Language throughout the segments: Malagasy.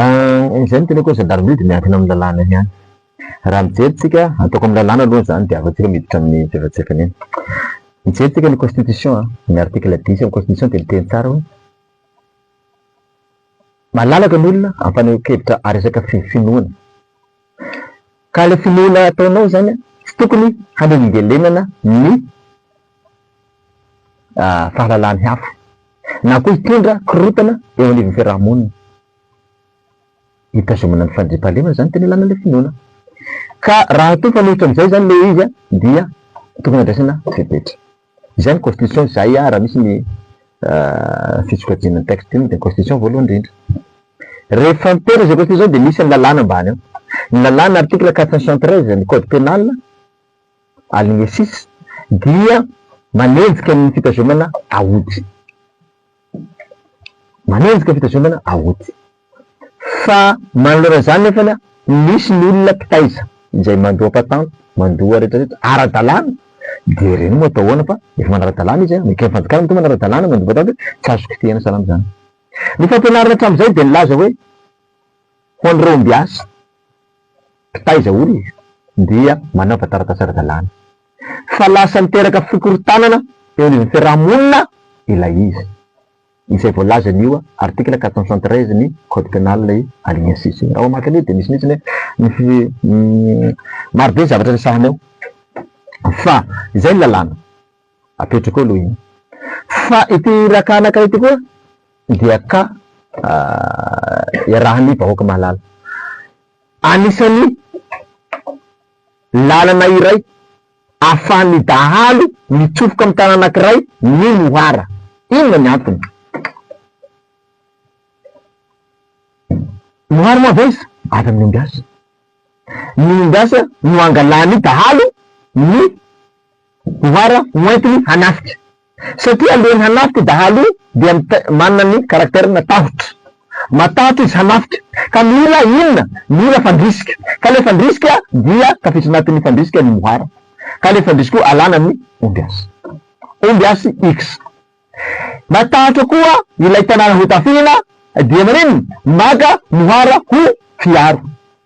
Ah, izay no teneko hoe gendarmerie dia miankina amin'ny lalàna ihany. Raha mijery tsika, ataoko amin'ny lalàna aloha izany dia afa-tsy ireo miditra amin'ny tsefatsefany eny. Mijery tsika ny constitution an, ny article dix amin'ny constitution dia miteny tsara hoe malalaka ny olona amin'ny fanehoan-kevitra ary resaka finoana. Ka ilay finoana ataonao izany an, tsy tokony hanelingelenana ny fahalalany hafa, na koa hitondra korontana eo anivon'ny fiaraha-monina. Hitazomana ny fandriampahalemana izany tena ilana ilay finoana. Ka raha toa mifanohitra amin'izay izany ilay izy dia tokony handraisana fepetra. Izay ny constitution izay aho raha misy ny fisokajiana ny texte io dia ny constitution voalohany indrindra. Rehefa miteny izay constitution dia misy ny lalàna ambany ao. Ny lalàna article quatre cent soixante treize ny code pénal aligne six dia manenjika ny fitazomana aody. Manenjika fitazomana aoty. Fa manoloana izany nefany misy ny olona mpitaiza izay mandoa patente, mandoa rehetra rehetra ara-dalàna dia ireny moa atao ahoana fa efa manara-dalàna izy a, ny fanjakana matoa manara-dalàna mandoa patente tsy azo kitihana salama izany. Ny fampianarana hatramin'izay dia nilaza hoe ho an'ireo ombiasy mpitaiza olona dia manaova taratasy ara-dalàna. fa lasa niteraka fikorontanana eo anivon'ny fiarahamonina ilay izy, izay voalazan'io article quatre cent soixante treize ny code pénal i alignacisse io. Raha mamaky an'io dia misy mihitsy ny hoe maro be ny zavatra resahana eo fa izay ny lalàna apetrako eo aloha iny. Fa ity Iraka anankiray ity koa dia ka iarahan'ny vahoaka mahalala. Anisan'ny Lalana iray ahafahan'ny dahalo mitsofoka amin'ny tanàna anankiray ny moara. Inona ny antony? Moara moa avy aiza? Avy amin'ny ombiasa. Ny ombiasa no angalan'ny dahalo ny moara hoentiny hanafika. Satria alohan'ny hanafika io dahalo io dia manana ny caractère matahotra. Matahotra izy hanafika ka mila inona? Mila fandrisika. Ka ilay fandrisika dia tafiditra anatin'ny fandrisika ny mohara. Ka ilay fandrisika io alana ny ombiasy. Ombiasy X. Matahotra koa ilay tanàna ho tafihina dia maninn? Maka mohara ho fiharo.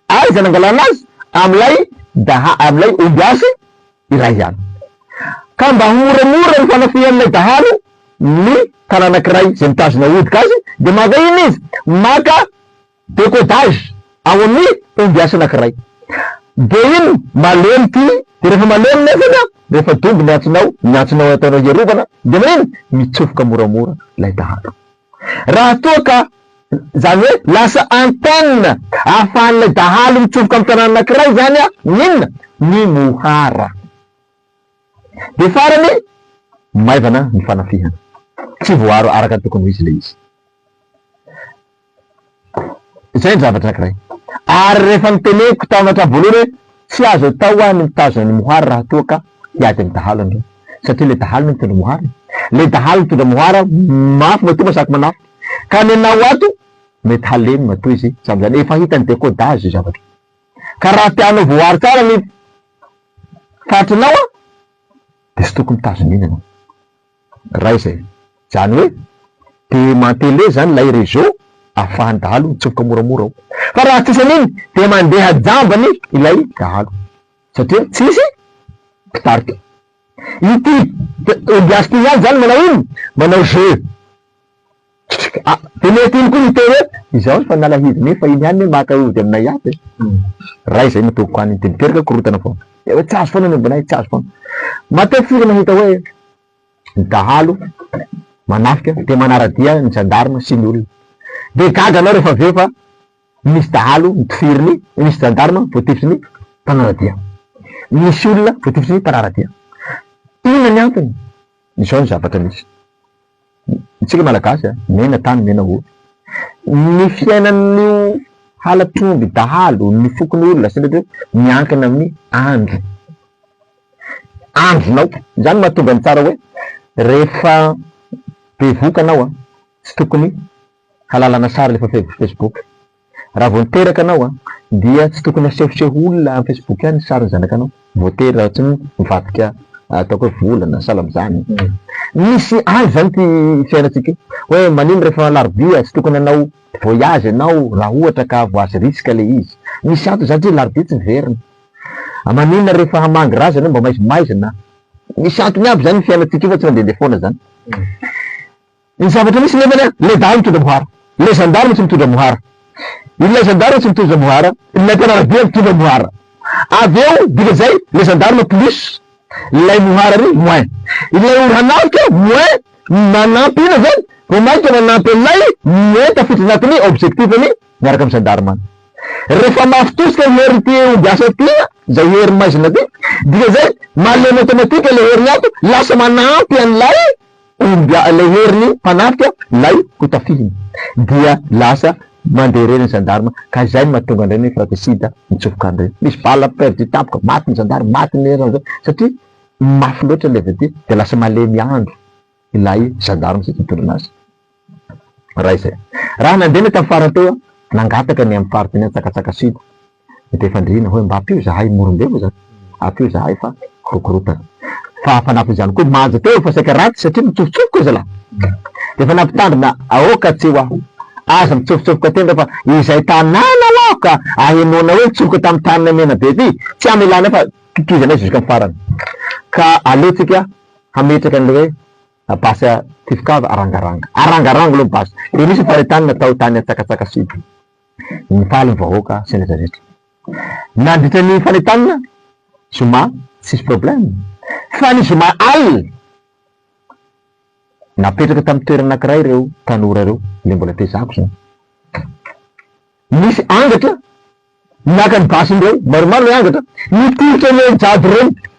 Aiza nangalana azy? Amin'ilay daha, amin'ilay ombiasy iray ihany. Ka mba hamoramora ny fanafihan'ilay dahalo ny tanànankiray izay mitazona hodoka azy dia maka inona izy? Maka décodage ao amin'ny ombiasy anankiray. Dia iny malemy ity, dia rehefa malemy nefany an, rehefa dombo ny antsonao, ny antsonao ataonao hiarovana, dia manina? Mitsofoka moramora ilay dahalo. Raha toa ka, izany hoe lasa antenne ahafahan'ilay dahalo mitsofoka amin'ny tanàna anankiray izany an, ny inona? Ny mohara. Dia farany, maivana ny fanafihana. Tsy voaaro araka ny tokony ho izy ilay izy. Izay ny zavatra anankiray. Ary rehefa noteneniko tamin'ny hatramin'ny voalohany hoe tsy azo atao ho'a ny mitazona an'i Mohar raha toa ka hiady amin'ny dahalo ianareo. Satria ilay dahalo no mitondra Mohar e! Ilay dahalo mitondra Mohar mafy matoa masaky manafika. Ka ny anao ato mety halemy matoa izy samy izany. Efa hitan'i Decodage izay zavatra izay. Ka raha te hanao voahary tsara ny faritrinao dia tsy tokony mitazona iny ianao. Raha izay. Izany hoe demanteler zany ilay réseau ahafahan'ny dahalo mitsofoka moramora ao. Fa raha tsisy an'iny dia mandeha jambany ilay dahalo satria tsisy mpitarika. Ity ombiasy ity ihany zany manao inona? Manao jeu. Dia mety iny koa ny hiteny hoe izaho efa nalahelo nefa iny ihany hoe maka ody aminay ato e! Ray izay no tompoko any, dia miteraka korontana foana. Dia hoe tsy azo foana ny obinay, tsy azo foana. Matetika izy mahita hoe ny dahalo manafika dia manara-dia ny zandarma sy ny olona. Dia gaga ianao rehefa avy eo fa misy dahalo notifirin'ny, misy zandarma voatifin'ny mpanara-dia, misy olona voatifin'ny mpanara-dia. Inona ny antony? Izao ny zavatra misy. Isika Malagasy a, miaina tany, miaina ory. Ny fiainan'io halatr'omby dahalo ny fokon'ny olona sy ny hoe miankina amin'ny andro, andronao. Izany no mahatonga ny tsara hoe rehefa bevoka anao a, tsy tokony halalana sary alefa facebook. Raha vao niteraka anao dia tsy tokony hasehoseho olona am facebook any sarin'ny zanakanao voatery raha tsy mivadika ataoko hoe volana sahala amzany misy any zany ty fiainantsika io hoe manino rehefa alarobia tsy tokony hanao voyage ianao raha ohatra ka voice risque le izy misy antony zany tsy larobia tsy miverina a maninona rehefa hamangy ra zany mba maizimaizina misy antony aby zany ny fiainantsika io fa tsy mandehandeha foana zany. Ny zavatra misy nefany an, ilay dahalo mitondra mohara, ilay zandary tsy mitondra mohara, ilay zandary tsy mitondra mohara, ilay mpianaradia mitondra mohara, avy eo dika izay ilay zandarma plus, ilay mohara ary moins, ilay ora hanafika moins manampy inona izany vao mainka manampy an'ilay moins tafiditra anatin'ny objectif-ny miaraka amin'ny zandarma. Rehefa mafy tosika ny herin'ity omby asa ity an, izay hery maizina ity, dika izay malemy automatique ilay herin'ny ato lasa manampy an'ilay Omby ilay heriny mpanafika ilay hotafihiny dia lasa mandeha irery ny gendarme ka izay no mahatonga an'ireny hoe fratricide mitsofoka an'ireny. Misy balle perdue tampoka, maty ny gendarme, maty ny heriny amin'izay satria mafy loatra ilay avy aty dia lasa malemy andro ilay gendarme izay nitondra anazy. Raha izay. Raha nandeha ny aty amin'ny farany teo, nangataka ny amin'ny faritra ny antsakatsaka sud Dia fandrihina hoe mba ampio zahay morombe moa zany, ampio zahay fa korokorotana. Fa fanampin izany koa manja teo fa saika ratsy satria mitsofotsofoka zalahy. Dia efa nampitandrina aoka tsy ho aza mitsofotsofoka tendra fa izay tanàna ho aho ka ahenoana hoe nitsofoka tamin'ny tanana menabe ty tsy hamelanay fa totoizanay jusqu'à farany. Ka aleontsika hametraka an'ilay hoe basy a tifokava arangaranga. Arangaranga aloha ny basy. Dia nisy ny faritany natao tany Antsakatsaka sud. Nifaly ny vahoaka sy ny rejaretra. Nandritra ny fanentanana zoma tsisy problème. Fa ny zoma alina, napetraka tamin'ny toerana anankiray ireo tanora ireo, ilay mbola tezako izany. Nisy angatra naka ny basiny ireo, maromaro ilay angatra, nitolotra ny an'i Jado ireny.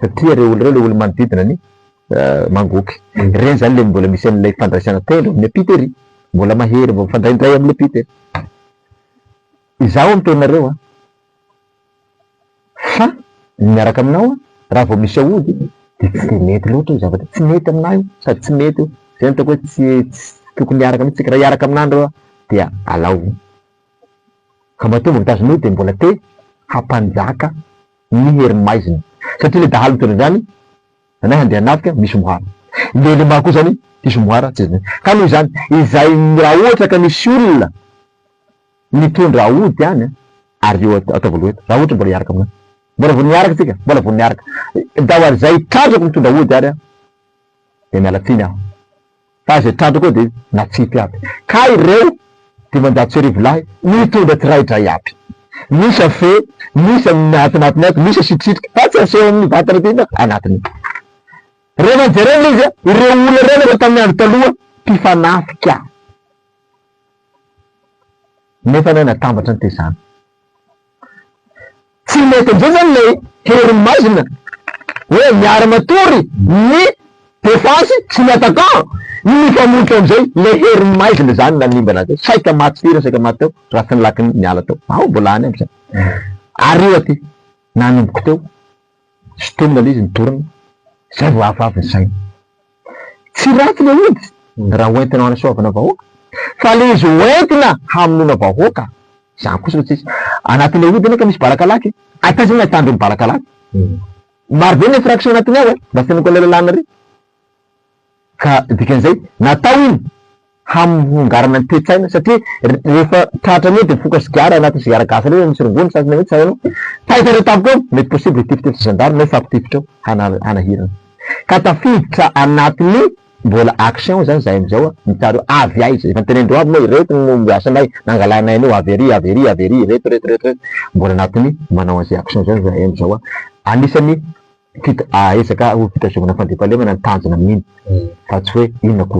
Satria ireo olona ireo, ilay olo-manodidina ny mangoky, ireny izany ilay mbola misy an'ilay fandraisana tendro amin'ny ampita ery, mbola mahery vao mifandray indray amin'ny ampita e! Izaho miteny anareo an! Fa ny miaraka aminao an, raha vao misy aody dia tsy dia mety loatra io zavatra io, tsy mety aminà io sady tsy mety io, izay no ataoko hoe tsy tsy tokony hiaraka mihitsy isika, raha hiaraka aminà nareo an, dia alao io! Ka matoa mbola mitazona io dia mbola te hampanjaka. ny herin'ny maizina satria ilay dahalo mitondra an'izany anay handeha hanafika misy moara ilay ilay maro koa izany diso moara tsy zany ka noho izany izay raha ohatra ka misy olona mitondra aody any an ary eo ataovy aloha eto raha ohatra mbola hiaraka aminao mbola vao niaraka isika mbola vao niaraka daho ary izay trandrako mitondra aody ary an dia miala tsiny aho Fa izay trandraka ao dia natsipy aby, ka ireo dimanjato sy arivo lahy nitondra tsiraidray aby. Misy afe, misy amin'ny atinatiny ato, misy asitrisika, fa tsy aseho amin'ny vatana aty fa anatiny. Rehefa nijerena ilay izy, ireo olona ireo no efa tamin'ny andro taloha mpifanafika, nefa nahay natambatra ny tezana. Tsy mety indray zany ilay hery maizina hoe miara matory ny defansy sy ny attaquant ny mifamonotra amizay ilay hery maizina zany nanimbana azy saika maty firy saika maty teo raha tsy ny lakiny niala teo ao mbola any aby zany ary io aty nanomboka teo sintomina ilay izy ny dorana zay vao avy avy ny saina. Tsy ratsy le izy raha hoentina hanasoavana vahoaka fa le izy hoentina hamonoana vahoaka zany kosa no tsisy. Anatin'le ody anie ka misy bala kalaky e! Ay taiza no ahitan'ireny bala kalaky? Maro be ny infraction anatiny ao e! Mba fenoiko an'ilay lalàna re! Ka dikan'izay natao iny hamongàrana ny toe-tsaina satria rehefa tratra an'io dia mifoka sigara anaty sigara gasy ireny misy rongony sasany hoe tsy hay ianao taitra ireo tampoka eo mety possible hitifitra ny zandary na hifampitifitra eo hanahirana ka tafiditra anatin'ny mbola action izany izahay amin'izao an, hitanareo avy aiza, efa notenenin-dreo aby moa ireto no asanay nangalanay an'io avy ery avy ery avy ery ireto ireto ireto ireto mbola anatin'ny manao an'izay action izay izahay amin'izao an, anisan'ny fit- ezaka ho fitazomana fandriampahalemana ny tanjona amin'iny fa tsy hoe inona akory.